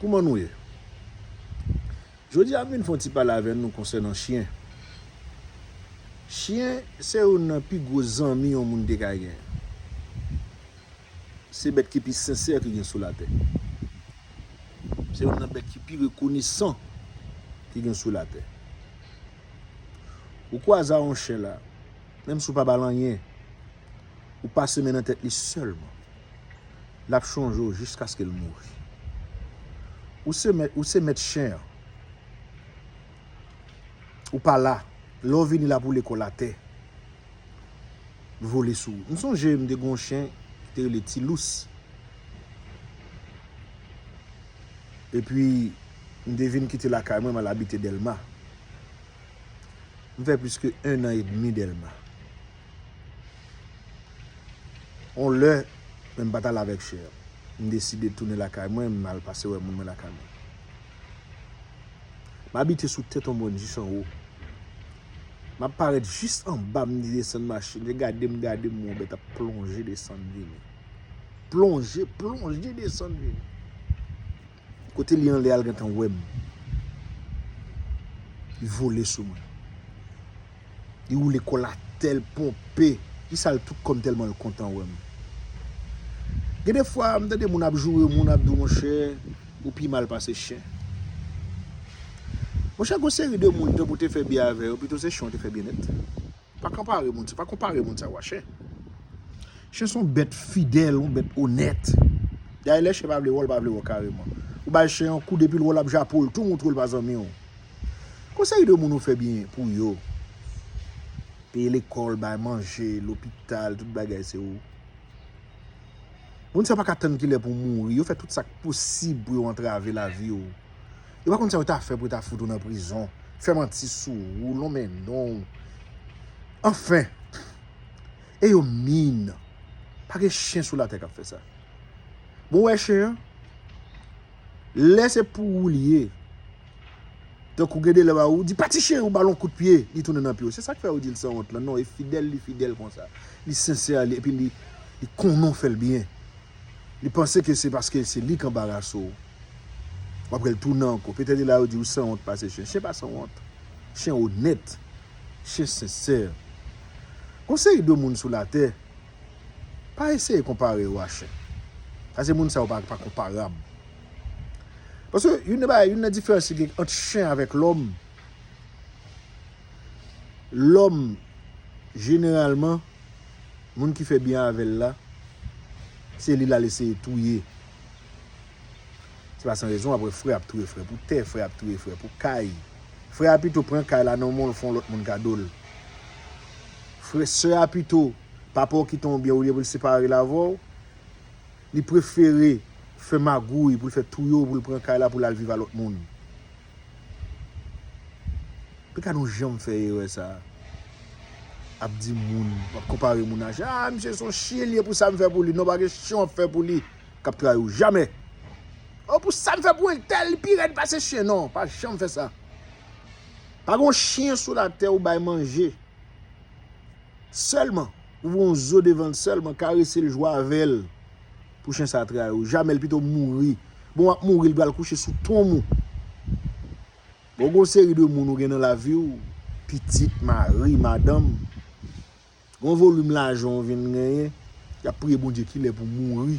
Kouman nou ye? Jodi a m vin fè yon ti pale avè nou konsènan chyen. Chyen se youn nan pi gwo zanmi yon moun te ka gen. Se bèt ki pi sensè ki gen sou latè. Se youn nan bèt ki pi rekonesan ki gen sou latè. Ou kwaze a yon chyen la, menm si ou pa ba l anyen, Ou pase men nan tèt li sèlman. L ap chonje w jiskaske l mouri. Ou se mèt, ou se mèt chen an. Ou pa la. Lè w vini l ap woule kò l atè. Vole sou ou. M sonje m te gen yon chen ki te rele Ti Lous. Epi, m te vin kite lakay mwen, m al abite Dèlma. M fè plis ke ennan edmi Dèlma. On lè, men m pa t al avèk Chè. M deside tounen lakay mwen, m al pase wè moun mwen lakay mwen. M abite sou tèt on mòn jis anwo. M ap parèt jis anba, m desann machin. Yo gade m, gade m, on bèt ap plonje desann vini. Plonje, plonje desann vini. Kote li anle al gentan wem. Li vole sou mwen. Li woule kol atel ponpe. Li sal tout kòm telman l kontan wem. Gen de fwa m tande moun ap joure moun ap di w monchè ou pi mal pase chen. Monchè gon seri de moun tanpou te fè byen avè yo pito se chen ou te fè byen nèt. Pa konpare moun sa, pa konpare moun sa ou a chen. Chen son bèt fidèl, yon bèt onèt. Dayè lè chen pa vle wè w, l pa vle wè w kareman. Ou bay chen yon kou depi l wè w l ap jape w, l tou montre w l pa zanmi w. Kon seri de moun ou fè byen pou yo. Peye lekòl, bay manje, lopital, tout bagay se ou. Moun sa pa ka tann kilè pou w mouri, yo fè tout sa k posib pou yo antrave lavi w. Yo pa konn sa yo ta fè pou yo ta fout ou nan prizon. Fè manti sou ou, lonmen non ou. Anfen! E yo min. Pa gen chen sou latè k ap fè sa. Bon ou wè chen an? Lè se pou ou li ye. Tankou gen de lè ou di pati chen ou ba l yon kout pye, li tounen nan pye ou. Se sa k fè ou di l sanwont lan. Non e fidèl li fidèl konsa. Li sensè epi li konnen ou fè l byen. Li panse ke se paske se li k anbarase ou. Wap wèl tounen ankò. Petèt e la yo diw sanwont pase chen. Chen pa sanwont. Chen onèt. Chen sensè. Gon seri de moun sou latè. Pa eseye konpare yo a chen. Pase moun sa yo pa konparab. Pase youn nan bagay, youn nan diferans ki gen ant chen avèk lòm. Lòm jeneralman moun ki fè byen avèl la se li lal eseye touye. Se pa san rezon wap wè frè ap touye frè pou tè, frè ap touye frè pou kay. Frè a pito pran kay la nan menw fon lòt moun kado l. Frè, sè a pito papa w kite w byen olye pou l separe l avè w, li prefere fè magouy pou l fè touye w pou l pran kay la pou l al viv a lòt moun. Pika nou janm fè erè sa a. Ap di moun, ap konpare moun a chyen. A misye son chyen li ye pou sa m fè pou li. Non pa gen chyen w ap fè pou li k ap trayi w. Jamè. O pou sa m fè pou entèl li pi rèd pase chyen. Non, pa janm fè sa. Pa gon chyen sou latè ou bay manje. Sèlman. Ou voun zo devan l sèlman. Karese l jwe avè l. Pou chen sa trayi w. Jamel pito mouri. Bon wap mouri li pral kouche sou tonm ou. Bon gon seri de moun ou gen nan lavi w. Pitit, mari, madanm. Gon volim lajan ou vin genyen. Yap priye Bondye kilè pou mouri.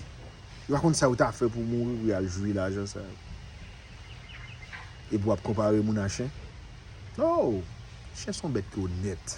Yo pa konn sa yo ta fè pou mouri pou yal jwi lajan sa yo. Epi wap konpare moun a chen. No! Chen son bèt ki onèt.